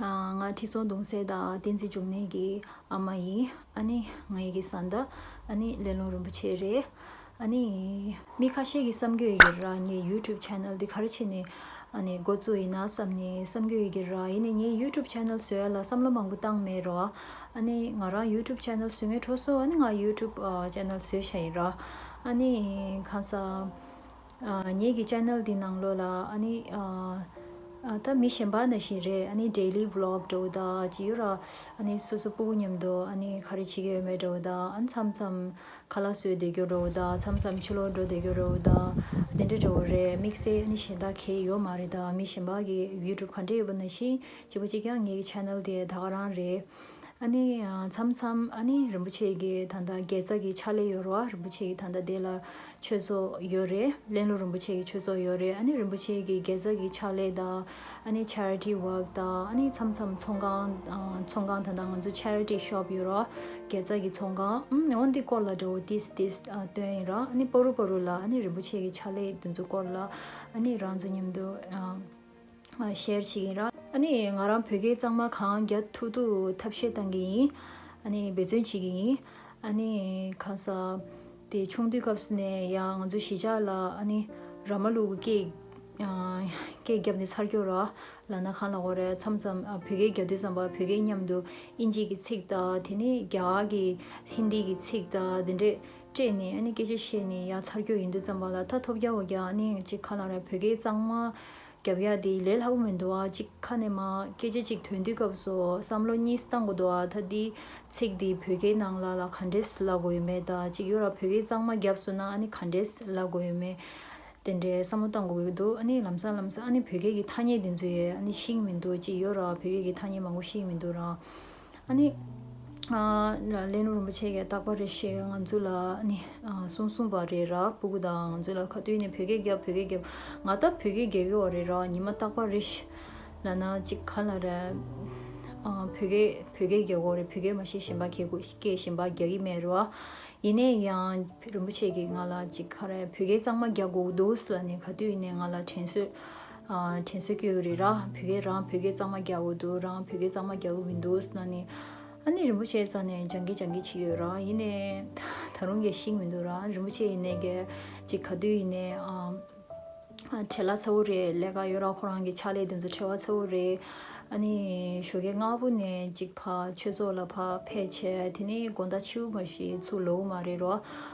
ང་ཁྲི་སྲོང་གདུང་སྲས་དང་བསྟན་འཛིན་འབྱུང་གནས་ཀྱི་ཨ་མ་ཡིན། ཨ་ནི་ངེད་ཀྱི་བཟའ་ཟླ། ཨ་ནི་ཀླེ་ལོང་རིན་པོ་ཆེ་རེད། ཨ་ནི། མི་ཁ་ཤས་ཀྱིས་བསམ་གྱི་ཡོད་ར་ངའི YouTube Channel འདི་གར་ཕྱིན་ནས་འགོ་བཙུགས་ཡིན་ན་བསམ་ནས་བསམ་གྱི་ཡོད་ཀྱི་ར་ཡིན་ནས་ངའི YouTube Channel བཟོས་ལ་བསམ་བློ་མང་པོ་བཏང་མེད་ར། ཨ་ནི་ང་རང YouTube Channel བཟོས་ངའི་གྲོགས་སུ་ཨ་ནི་ང YouTube Channel བཟོས་བྱས་ཡིན་ར། ཨ་ནི་གང་ཟག། ངེད་ཀྱི channel འདི་ནང་ལོ་ལ་ཨ་ནི་ད་མི་གཞན་པ་ན་ཞིག་རེད་ཨ་ནི daily vlog འདྲ་བོ་དང་ཅི་ཡོད་ར་ཨ་ནི་སོ་སོ་སྤུ་གུ་མཉམ་དུ་ཨ་ནི་ག་རེ་བྱེད་ཀྱི་ཡོད་མེད་འདྲ་བོ་དང་ཨ་ནི་མཚམས་མཚམས་ཁ་ལག་གསོས་བསྡད་རྒྱུ་འདྲ་བོ་དང་མཚམས་མཚམས་ཕྱི་ལོག་འགྲོ་བསྡད་རྒྱུ་འདྲ་བོ་དང་དེ་འདྲ་འདྲ་བོ་རེད་དམིགས་བསལ་ཨ་ནི་གཞན་དག་གས་ཡོད་མ་རེད་དང་མི་གཞན་པ་གིས youtube ག་འདྲ་ཡོད་པ་ན་ཞིག་བྱེད་པོ་གཅིག་ཀྱང་ངེད་ཀྱི channel དེ་ད་ག་རང་རེད། མཚམས་མཚམས་རིན་པོ་ཆེ་གི་ད་ལྟ་དགེ་རྩ་གི་ཕྱག་ལས་ཡོད་རེད་རིན་པོ་ཆེ་གི་ད་ལྟ་དེ་ལ་ཆོས་ཚོགས་ཡོད་རེད་གླེང་ལོ་རིན་པོ་ཆེ་གི་ཆོས་ཚོགས་ཡོད་རེད་རིན་པོ་ཆེ་གི་དགེ་རྩ་གི་ཕྱག་ལས་དང Charity Work དང་མཚམས་མཚམས་ཚོང་ཁང་ཚོང་ཁང་ད་ལྟ་ང་ཚོ Charity Shop ཡོད་རེད་དགེ་རྩ་གི་ཚོང་ཁང་འོ་འདི་སྐོར་ལ་འདྲ་བོ་དིས་དིས་སྟོན་ཡིན་རེད་ཕོ་རུ་ཕོ་རུ་ལ་རིན་པོ་ཆེ་གི་ཕྱག་ལས་དེ་ཚོ་སྐོར་ལ་རང་ཚོ་མཉམ་དུ་ཤེར་ཕྱིན་ཡིན། ཨཱ་ནི། ང་རང་བོད་སྐད་གཙང་མ་གང་རྒྱ་ཐུག་ཐུག་ཐབས་ཤེས་བཏང་གི་ཡིན། ཨཱ་ནི། འབད་བརྩོན་བྱེད་ཀྱི་ཡིན། ཨཱ་ནི། གང་ས། དེ་ཆུང་དུས་སྐབས་སུ་ནས་ཡང་ང་ཚོ་གཞིས་ཆགས་ལ་ཨཱ་ནི། ར་མ་ལུག་གི་སྐད་རྒྱབ་ནས་ཚར་གྱོ་ར། ལ་ན་གང་ལ་གོ་ར་མཚམས་མཚམས་བོད་སྐད་རྒྱ་དུས་ཙམ་པ་བོད་སྐད་མཉམ་དུ་ཨིན་ཇིག་གི་ཚིག་དང་དེ་ནས་རྒྱ་གར་གྱི་ཧིན་དི་གི་ཚིག་དང་དེ་འདྲས། སྤྲད་ནས་ཨ་ནི་སྐད་ཆ་བཤད་ནས་ཡ་ཚར་རྒྱུ་ཡིན་དུས་ཙམ་པ་ལ་ད་ཐོབ་རྒྱག་བ་རྒྱག་ཨ་ནི་གཅིག་ཁ་ལ་ར་བོད་སྐད་གཙང་མ་རྒྱབ་ཡ་དེ་ལས་སླ་པོ་མི་འདུག་ཨ་གཅིག་ཁ་ནས་མ་སྐད་ཆ་གཅིག་ཐོན་དུས་སྐབས་སུ་བསམ་བློ་གཉིས་སུ་གཏང་དགོས་འདུག་ཨ་ད་དེའི་ཚིག་དེ་བོད་སྐད་ནང་ལ་ལ་ག་འདྲས་སླ་དགོས་ཡོད་མེད་ད་གཅིག་ཡོ་ར་བོད་སྐད་གཙང་མ་རྒྱབ་སོ་ན་ཨ་ནི་ག་འདྲས་སླ་དགོས་ཡོད་མེད་དེ་འདྲས་བསམ་བློ་གཏང་དགོས་ཀྱི་འདུག་ཨ་ནི་ལམ་སང་ལམ་སང་ཨ་ནི་བོད་སྐད་ཀྱི་ཐ་སྙད་དེ་ཚོ་ཡས་ཨ་ནི་ཤིང་མི་འདུག་གཅིག་ཡོ་ར་བོད་སྐད་ཀྱི་ཐ་སྙད་མང་པོ་ཤིང་མི་འདུག་རང། ཨཱ་ནི། ལས་ནོར་རིན་པོ་ཆེ་ཀས་རྟག་པར་རེ་ཞིག་ང་ཚོ་ལ་ཨཱ་ནི། གསུང་གསུང་པ་རེད་ར་སྤུ་གུ་དང་ང་ཚོ་ལ་ཁ་བཏུད་ནས་བོད་སྐད་རྒྱབ་བོད་སྐད་རྒྱབ་ང་ལྟ་བུ་བོད་སྐད་རྒྱག་གི་བ་རེད་ར་ཉི་མ་རྟག་པར་རེ་ཞིག་ལ་ན་ཅིག་ག་ལ་རེ། བོད་སྐད་བོད་སྐད་རྒྱག་གོ་རེ་བོད་སྐད་མ་ཤེས་གཞན་པ་ཁྱེད་སྐུ་སྐད་གཞན་པ་རྒྱག་གི་མེད་ར། ཡིན་ནས་ཡང་རིན་པོ་ཆེ་ཀས་ང་ལ་ཅིག་ག་རེ་བོད་སྐད་གཙང་མ་རྒྱག་གོ་འདུག་ལ་ནི་ག་དུས་ནས་ང་ལ་དྲན་གསོས་དྲིན་གཟོ་སྐྱོ་གི་རེད་ར་བོད་སྐད་རང་བོད་སྐད་གཙང་མ་རྒྱག་དགོས་འདུག་རང་བོད་སྐད་གཙང་མ་རྒྱག་གི་མི་འདུག་ཟེར་ན་ནི། ཨ་ནི་རིན་པོ་ཆེ་རྩ་ནས་སྦྱང་གི་སྦྱང་གི་བྱེད་ཀྱི་ཡོད་ར་ཡིན་ནའི། ད་རུང་གེ་ཤིག་མི་འདུག་ར་རིན་པོ་ཆེ་ཡིན་ནའི་གེ་ཅིག་ག་དུས་ཡིན་ནའི། ཁྲེ་ལ་ཚ་བོ་རེད་ལས་ཀ་ཡོད་ར་ཁོ་རང་གི་ཕྱག་ལས་དེ་ཚོ་ཁྲེ་བ་ཚ་བོ་རེད། ཨ་ནི་ཞོ་གེ་སྔ་པོ་ནས་ཅིག་ཕ་ཆོས་ཚོགས་ལ་ཕ་ཕེ་བྱས་དེ་ནི་དགོན་བདག་ཆེའུ་མ་ཞིག་ཚུགས་ལོ་གུ་མ་རེད་ར།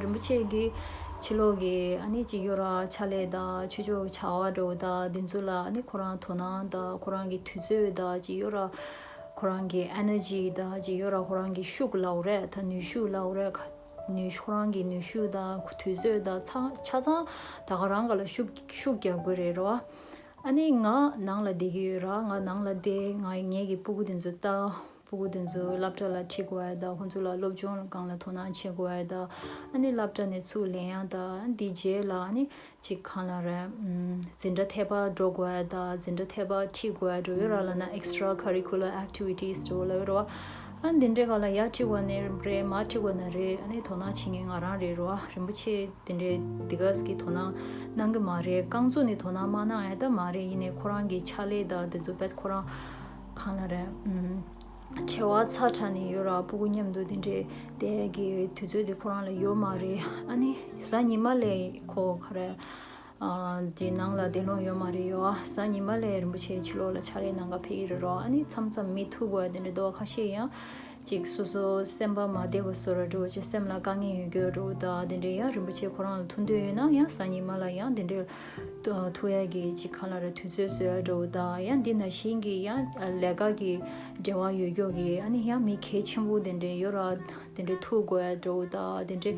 རིན་པོ་ཆེ་གིས་ཕྱི་ལོག་གི་སྤྱི་སྒེར་ཕྱག་ལས་དང་ཆོས་ཕྱོགས་ཀྱི་བྱ་བ་འགྲོ་བ་དག་འདི་ཚོ་ལ་ཁོ་རང་དོ་སྣང་དང་ཁོ་རང་གི་དུས་ཚོད་དང་ཅི་ཡོད་ར་ཁོ་རང་གི Energy དང་ཅི་ཡོད་ར་ཁོ་རང་གི་ཤུགས་ལག་རས་དང་ནུས་ཤུགས་ལག་རས་ཁོ་རང་གི་ནུས་ཤུགས་དང་དུས་ཚོད་དང་ཆ་ཚང་ད་ག་རང་ག་ལ་ཤུགས་རྒྱག་དགོས་རེད་ར། ཨ་ནི་ང་ནང་ལ་བསྡད་ཀྱི་ཡོད་ར་ང་ནང་ལ་བསྡད་ང་ངེད་ཀྱི་སྤུ་གུ་འདི་ཚོ་ལྟ། ཕྲུ་གུ་དེ་ཚོའི་སློབ་གྲྭ་ལ་ཁྲིད་དགོས་དང་ཁོ་ཚོ་ལ་སློབ་སྦྱོང་ལ་གང་ལ་དོ་སྣང་བྱེད་དགོས་དང། སློབ་གྲྭ་ནས་ཚུར་ལེན་ཡང་དང་དེ་རྗེས་ལ་ཅིག་གང་ལ་རེད། འཛིན་གྲྭ་ཐད་པར་འགྲོ་དགོས་དང་འཛིན་གྲྭ་ཐད་པར་ཁྲིད་དགོས་འགྲོ་ཡོད་ར་ལ་ན extra curricular activities འགྲོ་ལ་ཡོད་ར། འདི་འདྲའི་ག་ལ་ཡར་ཁྲིད་དགོས་ནི་རེད་མར་ཁྲིད་དགོས་ནི་རེད་དོ་སྣང་བྱེད་མཁན་ང་རང་རེད་ར་རིན་པོ་ཆེ་དེ་འདྲའི་དེ་ག་ཟིག་གི་དོ་སྣང་གནང་གི་མ་རེད་རྐང་མཛོ་ནི་དོ་སྣང་མ་གནང་ཨེ་ད་མ་རེད་ཡིན་ནའི་ཁོ་རང་གི་ཕྱག་ལས་དང་དེ་ཚོ་བེད་ཁོ་རང་གང་ལ་རེད། བྲེལ་བ་ཚ་དྲགས་ནས་ཡོད་ར་སྤུ་གུ་མཉམ་འདུག་དེ་འདྲའི་དེ་གི་དུས་ཚོད་དེ་ཁོ་རང་ལ་ཡོད་མ་རེད་ཨ་ནི་གཟའ་ཉི་མ་ལས་ཁོ་ག་རེ་གི་ནང་ལ་བདེ་སློང་ཡོད་མ་རེད་ཡོད་ཨ་གཟའ་ཉི་མ་ལས་རིན་པོ་ཆེའི་ཕྱི་ལོགས་ལ་ཆ་རེ་ནང་ག་ཕེབས་ཀྱི་རེད་རོ་ཨ་ནི་མཚམས་མཚམས་མི་ཐུག་གོ་ཨ་དེ་འདྲའི་རྡོག་ཁ་ཤས་ཡང་ཅིག་སོ་སོ་སེམས་པ་མ་བདེ་བ་སོགས་ལ་འགྲོ་བ་ཆེ་སེམས་ལ་དཀའ་ངལ་ཡོད་རྒྱུ་རུ་དང་དེ་འདྲའི་ཡང་རིན་པོ་ཆེ་ཁོ་རང་ལ་ཐུག་འདོད་ཡོད་ན་ཡང་སང་ཉི་མ་ལ་ཡང་དེ་འདྲའི་ཐུག་ཡ་གི་ཅིག་གང་ལ་ར་དུས་ཚོད་བཟོ་ཡ་འགྲོ་བ་དང་ཡང་འདི་ན་བཞིན་གི་ཡང་ལས་ཀ་གི་འབྲེལ་བ་ཡོད་རྒྱུ་གི་ཨ་ནི་ཡང་མི་གལ་ཆེན་པོ་དེ་འདྲའི་ཡོད་ར་དེ་འདྲའི་ཐུག་དགོས་ཡ་འགྲོ་བ་དང་དེ་འདྲའི་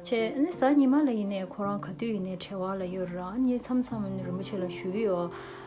ཆེ་ཨ་ནི་སང་ཉི་མ་ལ་ཡིན་ནའི་ཁོ་རང་ག་དུས་ཡིན་ནའི་བྲེལ་བ་ལ་ཡོད་ར་ཨ་ནི་མཚམས་མཚམས་རིན་པོ་ཆེ་ལ་ཞུ་གི་ཡོད།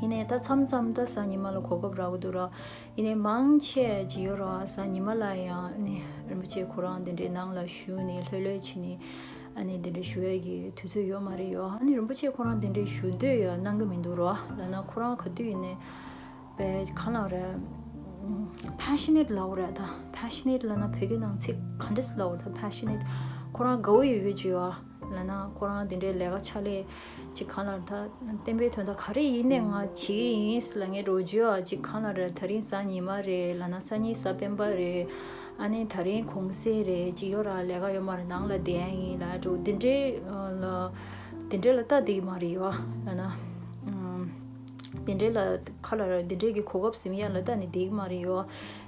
ཡིན་ནས་ད་མཚམས་མཚམས་ད་ས་ཉི་མ་ལ་གོ་སྐབས་རག་གི་འདུག་ར་ཡིན་ནས་མང་ཆེ་ཇི་ཡོད་ར་ས་ཉི་མ་ལ་ཡང་ནས་རིན་པོ་ཆེ་ཁོ་རང་དེ་འདྲའི་ནང་ལ་ཞུ་ནས་ལྷོད་ལྷོད་ཕྱིན་ནས་ཨ་ནི་དེ་འདྲ་ཞུ་ཡས་ཀྱི་དུས་ཚོད་ཡོད་མ་རེད་ཡོད་ཨ་ནི་རིན་པོ་ཆེ་ཁོ་རང་དེ་འདྲའི་ཞུ་འདོད་ཡོད་གནང་གི་མི་འདུག་ར་ལ་ན་ཁོ་རང་ག་དུས་ཡིན་ནས་པའི་གང་ལགས་ར passionate ལགས་ར་ད passionate ལ་ན་བོད་སྐད་ནང་ཚིག་ག་འདྲ་སི་ལགས་ར་ད passionate ཁོ་རང་དགའ་བོ་ཡོད་ཡོད་ཇི་ཡོད་ཨ། ལ་ན་ཁོ་རང་དེ་འདྲའི་ལས་ཀ་ཆ་ལེ་ཅིག་གང་ལ་ད་བསྟན་པའི་དོན་དག་ག་རེ་ཡིན་ནས་ང་བྱེད་ཀྱི་ཡིན་ཟེར་ལ་ངའི་འགྲོ་རྒྱུ་ཨ་ཅིག་གང་ལ་རེད་ད་རིང་གཟའ་ཉི་མ་རེད་ལ་ན་གསར་རྙིང་གཟའ་སྤེན་པ་རེད་ཨ་ནི་ད་རིང་གུང་ཟས་རེད་ཅིག་ཡོད་ར་ལས་ཀ་ཡོད་མ་རེད་ནང་ལ་བསྡད་ཡ་ཡིན་ལ་འགྲོ་དེ་འདྲའི་ལ་དེ་འདྲའི་ལ་ལྟ་བསྡད་ཀྱི་མ་རེད་ཡོད་ལ་ན་དེ་འདྲའི་ལ་ཁ་ལ་ར་དེ་འདྲའི་གི་གོ་སྐབས་ཟིན་ཡ་ལ་ལྟ་ནས་བསྡད་ཀྱི་མ་རེད་ཡོད་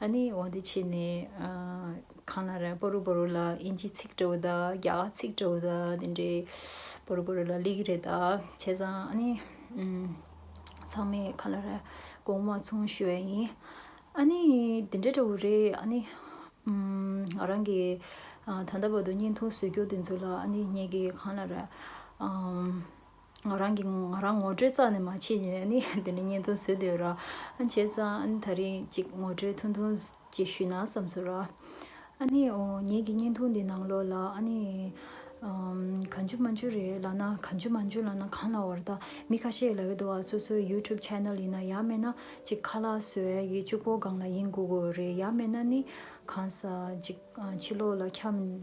ཨ་ནི་འོ་འདི་ཕྱི་ནས་གང་ལ་རེ་པོ་རུ་པོ་རུ་ལ་དབྱིན་ཇིའི་ཚིག་འབྲི་བོ་དང་རྒྱ་གར་ཚིག་འབྲི་བོ་དང་དེ་འདྲའི་པོ་རུ་པོ་རུ་ལ་ལས་ཀྱི་རེད་ད་བྱས་ཙང་ཨ་ནི་ཚང་མས་ག་ལ་རེ་གོང་མ་ཚུང་ཞུ་བའི་ཡིན་ཨ་ནི་དེ་འདྲ་འདྲ་བོ་རེད་ཨ་ནི་ང་རང་གི་ད་ལྟ་བར་དུ་བརྙན་ཐུང་བཟོས་རྒྱུ་དེ་ཚོ་ལ་ཨ་ནི་ངེད་ཀྱིས་གང་ལ་རེ་ང་རང་གིས་ང་རང་ངོ་སྤྲོད་རྩ་ནས་མ་བྱས་ཀྱི་ནི་དེ་ནས་བརྙན་ཐུང་བཟོས་འདོད་ར་ཨ་བྱས་ཙང་ཨ་ནི་ད་རིང་ཅིག་ངོ་སྤྲོད་ཐུང་ཐུང་ཅིག་ཞུས་ན་བསམ་སོ་ར། ཨ་ནི་འོ་ངེད་ཀྱི་བརྙན་ཐུང་འདི་ནང་ལོགས་ལ་ཨ་ནི། གང་འཇུ་མ་འཇུ་རེད་ལགས་ན་གང་འཇུ་མ་འཇུ་ལགས་ན་གང་ལ་བར་ད་མི་ཁ་ཤས་ལ་གི་འདུག་ཨ་སོ་སོའི YouTube Channel ཡིན་ན་ཡག་མེད་ན་ཅིག་ཁ་ལག་སོས་ཨ་གི་ཅུག་པོ་སྒང་ལ་ཡིན་དགོས་གོ་རེད་ཡག་མེད་ན་ནི་གང་ས་ཅིག་ཕྱི་ལོགས་ལ་འཁྱམས།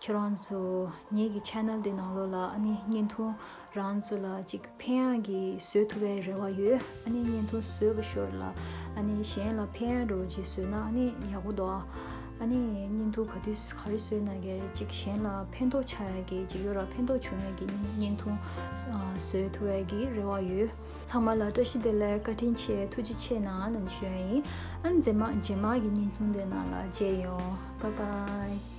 ཁྱེད་རང་ཚོ་ངེད་ཀྱི channel དེ་ནང་ལོག་ལ་ཨ་ནི་བརྙན་ཐུང་རང་ཚོ་ལ་ཅིག་ཕན་ཡག་གི་བཟོས་ཐུབ་པའི་རེ་བ་ཡོད་ཨ་ནི་བརྙན་ཐུང་བཟོས་པ་ཤོར་ལ་ཨ་ནི་གཞན་ལ་ཕན་ཡག་འགྲོ་ཅིག་བཟོས་ན་ཨ་ནི་ཡག་པོ་འདུག་ཨ་ནི་བརྙན་ཐུང་ག་དུས་ག་རེ་བཟོས་ན་གི་ཅིག་གཞན་ལ་ཕན་ཐོག་ཆགས་ཡག་གི་ཅིག་ཡོད་ར་ཕན་ཐོག་བྱུང་ཡག་གི་ནི་བརྙན་ཐུང་བཟོས་ཐུབ་པའི་གི་རེ་བ་ཡོད། ཚང་མ་ལ་བཀྲ་ཤིས་བདེ་ལེགས་བཀའ་དྲིན་ཆེ་ཐུགས་རྗེ་ཆེ་ནང་ནང་བྱོན་ཡིན་ཨ་ནི་རྗེས་མ་རྗེས་མ་གི་བརྙན་ཐུང་དེ་ནང་ལ་མཇལ་ཡོང་བ་བའི།